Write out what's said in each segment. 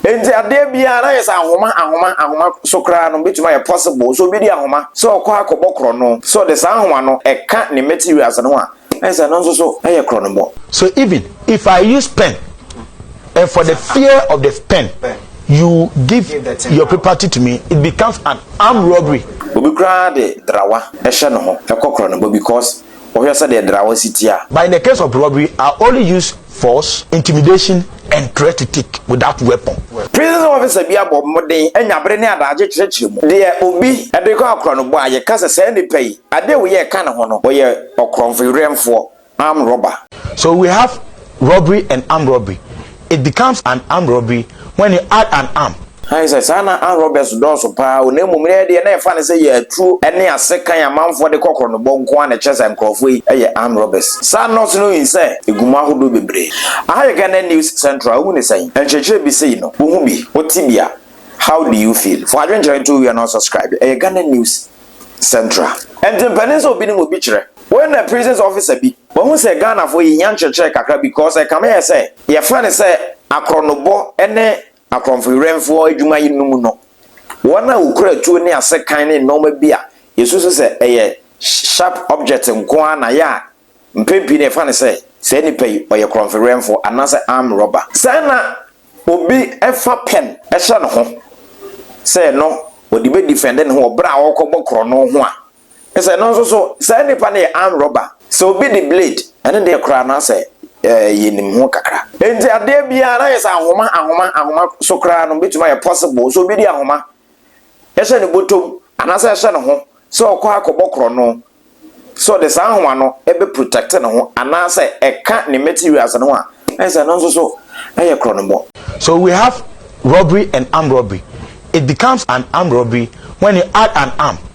Enti adeɛ biara na ayɛ sɛ ahoma ahoma ahoma so koraa no bɛtumi ayɛ possible sɛ obi de ahoma sɛ ɔkɔ akɔbɔ korɔno sɛ ɔde saa ahoma no ɛka ne materials no ho a ayɛ sɛ ɛno nso so ɛyɛ korɔnobɔ. So even if I use pen and for the fear of the pen you give your property to me it becomes an armed robbery. Obi koraa de drawa ɛhyɛ ne ho ɛkɔ korɔnobɔ because wɔhwɛ sɛdeɛ Drawah si teɛ a. But in the case of robbery, I only use force, intimidation and threat to take without weapon. Prison officer bi abɔ mmɔden anya bere ne adagye kyerɛkyerɛ mu. Deɛ obi de rekɔ akorɔnobɔ a yɛka sɛ saa nipa yi, adeɛ a ɔyɛ ka ne ho no, ɔyɛ ɔkorɔnfoyerɛnfoɔ, armed robber. So we have robbery and armed robbery. it becomes an armed robbery when you add an arm. Aane sɛ saa na armed robbers dɔɔso paa o na mmom nnɛ deɛ na yɛfa no sɛ yɛ atuo ne asekan a manfoɔ de kɔ korɔnobɔ nko ara na ɛkyerɛ sɛ nkorɔfoɔ yi yɛ armed robbers. Saa nurse no hui sɛ ɛgu mu ahodoɔ bebree. Aha yɛ Ghana News Central wohu ne sɛn? Nkyerɛkyerɛ bi sei no, wohu bi, wote bi a, how do you feel? Fa adwenkyerɛ to owia na subscribe. Ɛyɛ Ghana News. Central. Ɛnti mpanin sɛ obi nim obi kyerɛ. Wei na prisons officer bi. Wahu sɛ Ghanafoɔ yɛhia nkyerɛkyerɛ kakra because ɛkame yɛ sɛ yɛfrɛ no sɛ akorɔnobɔ ne akorɔmfoyerɛmfoɔ adwuma yi no mu no wɔn a wɔkura atuo ne asekan ne nnoɔma bi a yɛsusu sɛ ɛyɛ sharp object nko ara na yɛ a Mpɛn pii no yɛfa no sɛ saa nipa yi ɔyɛ korɔnfewɛnfo anaasɛ arm robber. Sɛ na obi fa pɛn hyɛ ne ho sɛ ɛno ɔde bɛ defend ne ho wɔ berɛ a ɔrekɔbɔ korɔno ho a, kyerɛ sɛ ɛno nso so saa nipa no yɛ arm robber. Sɛ obi de blade, ɛno deɛ koraa na sɛ yɛnim ho kakra. Enti adeɛ biara na ayɛ sɛ ahoma ahoma ahoma so koraa no bɛtumi ayɛ possible sɛ obi de ahoma. hyɛ ne bɔtɔ mu anaasɛ ɛhyɛ ne ho sɛ ɔkɔ akɔbɔ korɔno sɛ ɔde saa nhoma no bɛ protect ne ho anaasɛ ɛka ne materials no ho a ɛne sɛ ɛno nso so ɛyɛ korɔnobɔ. So we have robbery and armed robbery, it becomes an armed robbery when you add an arm.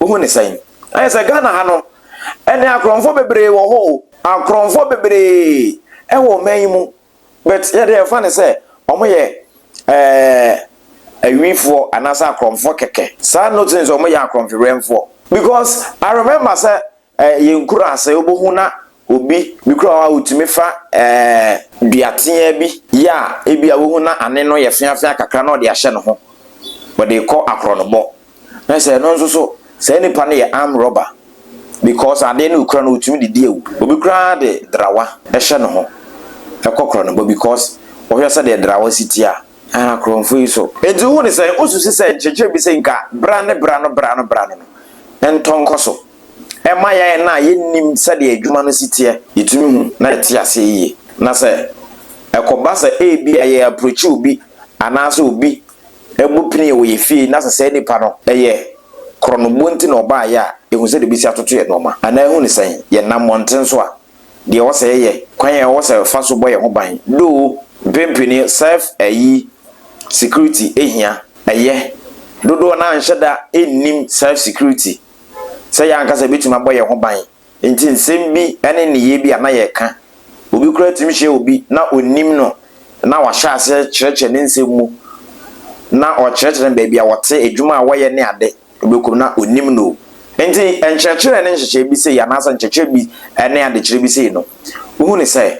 Wohu no sɛn? Ayɛ sɛ Ghana ha no, ɛnɛ akorɔmfoɔ bebree wɔ hɔ o. Akorɔmfoɔ bebree wɔ ɔman yi mu, but yɛde yɛfa no sɛ wɔyɛ ɛɛ awifoɔ anaasɛ akorɔmfoɔ kɛkɛ. Saa note no sɛ wɔyɛ akorɔmfewɛmfoɔ because I remember sɛ Ɛɛ yɛn kuro ase wobohu na obi bi kura hɔ a otumi fa ɛɛ dua teaa bi yɛ a ebi a wohu na ane no yɛ feafea kakra na ɔde ahyɛ ne ho wɔde kɔ akorɔnobɔ na sɛ ɛno nso so saa nipa no yɛ arm rɔba because adeɛ no okura no otumi de di awu obi koraa de drawa ɛhyɛ ne ho ɛkɔ korɔnobɔ because wɔhwɛ sɛ deɛ drawa si tia ɛn akorɔnfo yi so. Enti wohu ne sɛn wosusi sɛ nkyerɛkyerɛ bi sɛ nka bra ne bra no bra no bra no no ntɔ nkɔ so. ɛma yɛn a yennim sɛdeɛ adwuma no si teɛ yetumi hu na yɛte aseɛ yie. Na sɛ ɛkɔba sɛ ebia yɛ approachi obi anaasɛ obi bɔ pini wɔ yɛn fie na sɛ saa nipa no yɛ korɔnoboɔ nti na ɔbaeɛ a, yɛhu sɛdeɛ yɛbɛsi atoto yɛn nnoɔma anaa ɛhu no sɛn? Yɛnam mmɔnten so a, deɛ ɛwɔ sɛ yɛyɛ, kwan a ɛwɔ sɛ yɛfa so bɔ yɛn ho ban, though mpempene self ayi security hia, ɛyɛ, dodoɔ no ara nhyɛ da nnim self security. sɛ yɛn ankasa yebetumi abɔ yɛn ho ban. Enti nsɛm bi ne nneyɛe bi a na yɛka, obi koraa tumi hyia obi na onnim no na wahyɛ aseɛ kyerɛkyerɛ ne nsɛm mu, na ɔkyerɛkyerɛ no baabi a wɔte, adwuma a wɔyɛ ne ade, wobɛkɔ mu na onnim no. Enti nkyerɛkyerɛ ne nhyehyɛe bi sei anaasɛ nkyerɛkyerɛ bi ne adekyerɛ bi sei no, wohu no sɛ,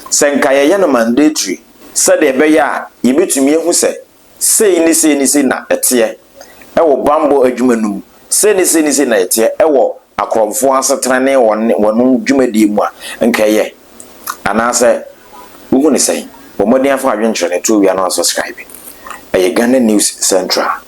sɛ nka yɛyɛ no mandatory sɛdeɛ ɛbɛyɛ a yɛbɛtumi ahu sɛ Sei ne sei ne sei na ɛteɛ wɔ bammɔ adwuma no mu, sei ne sei ne sei na ɛteɛ wɔ akorɔmfoɔ asetena ne wɔn wɔn dwumadie mu a, nka ɛyɛ? Anaasɛ wohu no sɛn? Bɔ mmɔden fa adwenkyerɛ no to owia na wa subscribe. Ɛyɛ Ghana News Central.